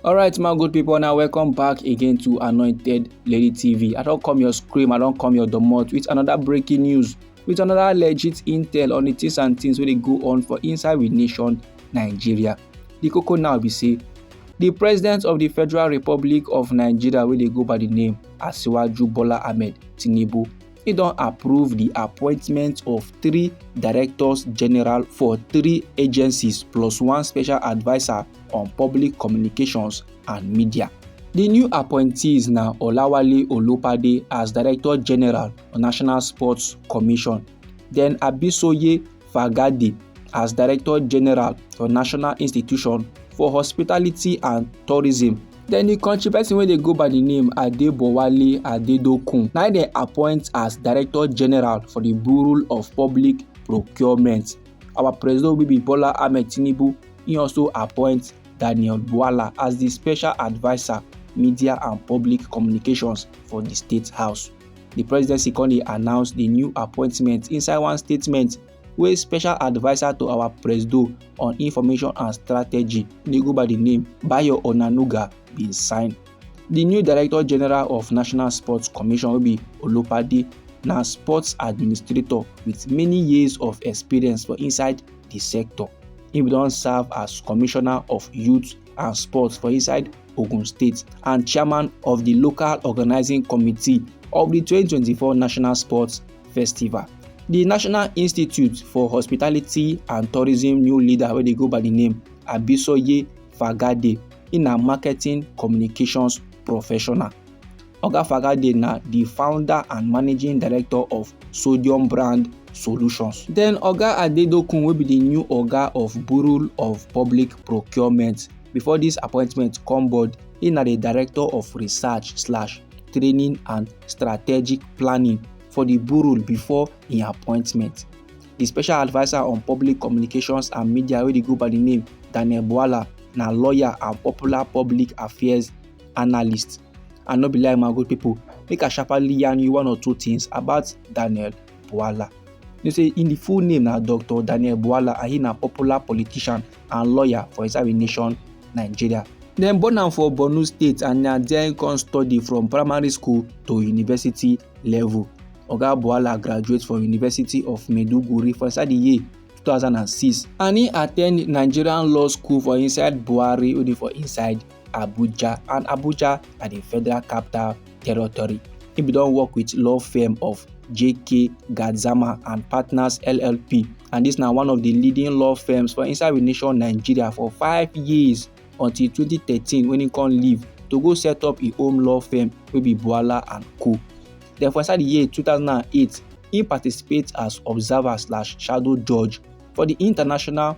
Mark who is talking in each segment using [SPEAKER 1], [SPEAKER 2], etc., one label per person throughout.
[SPEAKER 1] alright my good people now welcome back again to anointed lady tv i don't come your scream i don't come your domot with another breaking news with another legit intel on the things and things wey dey go on for inside we nation nigeria the cocoa now be say the president of the federal republic of nigeria wey dey go by the name asiwaju bola ahmed tinubu e don approve di appointment of three directors general for three agencies plus one special adviser on public communications and media. di new appointees na olawale olopade as director general on national sports commission then abisoye fagade as director general for national institution for hospitality and tourism Then the country person wey dey go by the name Adebowale Adedokun na dem appoint as Director General for the Bureau of Public Procurement. Our President wey be Bola Ahmed Tinubu, he also appoint Daniel Bwala as the Special Adviser Media and Public Communications for the State House. The presidency come dey announce the new appointment inside one statement wey special adviser to our presido on information and strategy dey go by di name bayo onanuga bin sign di new director general of national sports commission wey be olopade na sports administrator wit many years of experience for inside di sector e bin don serve as commissioner of youth and sports for inside ogun state and chairman of di local organising committee of di 2024 national sports festival. The National Institute for Hospitality and Tourism new leader wey dey go by the name Abisoye Fagade, he na marketing communications professional. Oga Fagade na the founder and managing director of Sodium Brand Solutions. Then Oga Adedokun wey be the new Oga of Bureau of Public Procurement before this appointment come board, he na the director of research slash training and strategic planning for di bureau before im appointment. di special adviser on public communications and media wey dey go by di name daniel bwala na lawyer and popular public affairs analyst and no be like my good people make i sharply yarn you one or two things about daniel bwala you know say im full name na dr daniel bwala and he na popular politician and lawyer for inside di nation nigeria. dem born am for borno state and na there im come study from primary school to university level. oga buhala graduate from university of maiduguri for inside di year 2006 and he attend nigerian law school for inside buhari wey dey for inside Abuja and Abuja na di federal capital territory. He bin don work with law firm of JK Gadzama and Partners LLP and this na one of the leading law firms for inside the nation Nigeria for five years until 2013 when he come leave to go set up his own law firm wey be Buala and Co. Then for inside the year 2008, he participate as observer slash shadow judge for the International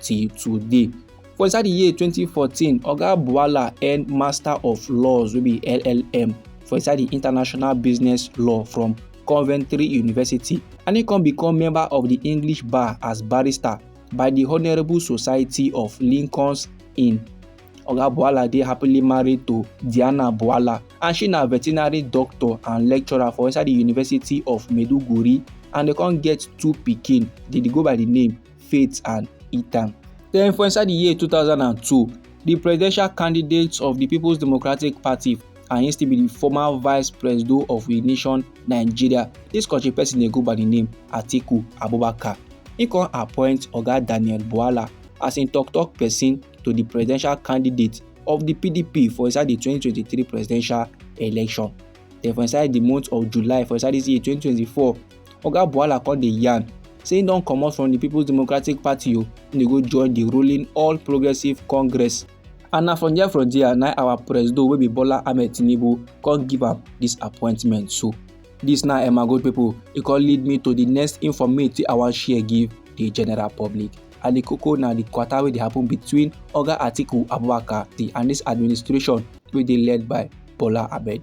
[SPEAKER 1] till today. For inside the year 2014, Oga Buala earned Master of Laws wey be LLM for inside the International Business Law from Coventry University and he come become member of the English Bar as barrister by the Honourable Society of Lincoln's Inn. Oga Buala dey happily married to Diana Buala and she na veterinary doctor and lecturer for inside the University of Maiduguri and they come get two pikin dey dey go by the name faith and eat am. Then for inside the year 2002, the presidential candidates of the People's Democratic Party and he still be the former vice president of the nation Nigeria. This country person dey go by the name Atiku Abubakar. He come appoint Oga Daniel Buala as im tok-tok pesin to di presidential candidate of di pdp for inside di 2023 presidential election den for inside di month of july for inside dis year 2024 oga buhala come dey yarn say im don comot from di peoples democratic party o im dey go join di ruling all progressives congress and na from there from there na our presido wey be bola ahmed tinubu come give am dis appointment so dis na emma good pipo e come lead me to di next informate wey i wan share give di general public and di koko na di kwata wey dey happen between oga atiku abubakar di and dis administration wey dey led by bola ahmed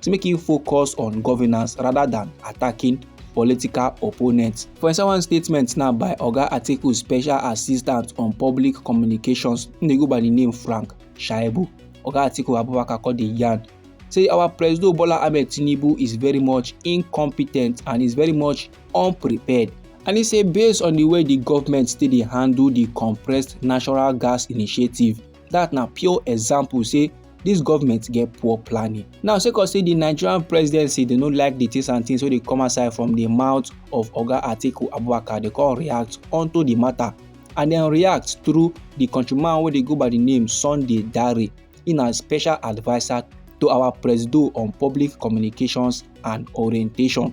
[SPEAKER 1] to make im focus on governance rather than attacking political opponents. For inside one statement now by Oga Atiku Special Assistant on Public Communications, im dey go by the name Frank Shaibu. Oga Atiku Abubakar called the yarn say our President Bola Ahmed Tinubu is very much incompetent and is very much unprepared. And he say based on the way the government still dey handle the compressed natural gas initiative, dat na pure example say dis government get poor planning now sake of say di nigerian presidency dey no like di things and things wey dey come outside from di mouth of oga atiku abubakar dey come react onto di matter and dem react through di countryman wey dey go by di name sunday dare in na special adviser to our presido on public communications and orientation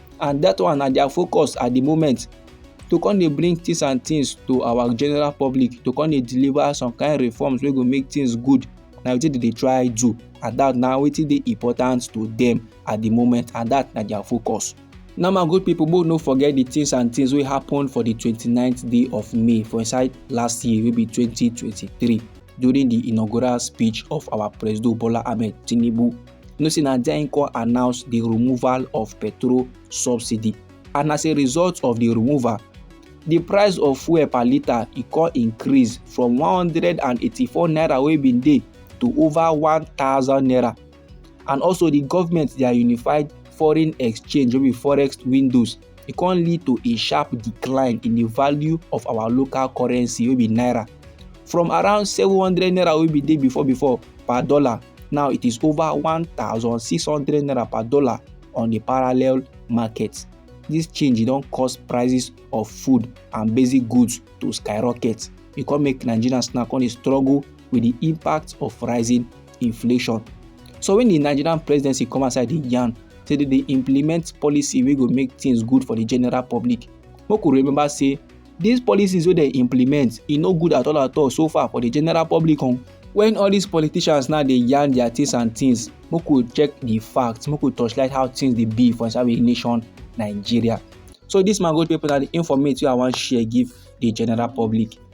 [SPEAKER 1] and that one na their focus at the moment to come dey bring things and things to our general public to come dey deliver some kind reforms wey go make things good na wetin dem dey try do and that na wetin dey important to them at the moment and that na their focus. Now my good people make we no forget the things and things wey happen for the 29th day of May for inside last year wey be 2023 during the inaugural speech of our President Bola Ahmed Tinubu you know say na there im come announce the removal of petrol subsidy and as a result of the removal the price of fuel per litre e come increase from 184 naira wey bin dey to over 1000 naira and also the government their unified foreign exchange wey be forex windows e come lead to a sharp decline in the value of our local currency wey be naira from around 700 naira wey be dey before before per dollar now it is over 1600 naira per dollar on the parallel market this change don cause prices of food and basic goods to skyrocket e come make nigerians now come dey struggle with the impact of rising inflation so when the nigerian presidency come outside the yarn say they dey implement policy wey go make things good for the general public make we remember say these policies wey dey implement e no good at all at all so far for the general public on when all these politicians now dey yarn their things and things make we check the facts make we torchlight how things dey be for inside we nation nigeria so this man go people na the informate wey i wan share give the general public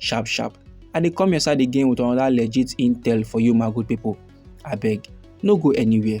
[SPEAKER 1] sharp sharp i dey come your side again with another legit intel for you my good people abeg no go anywhere.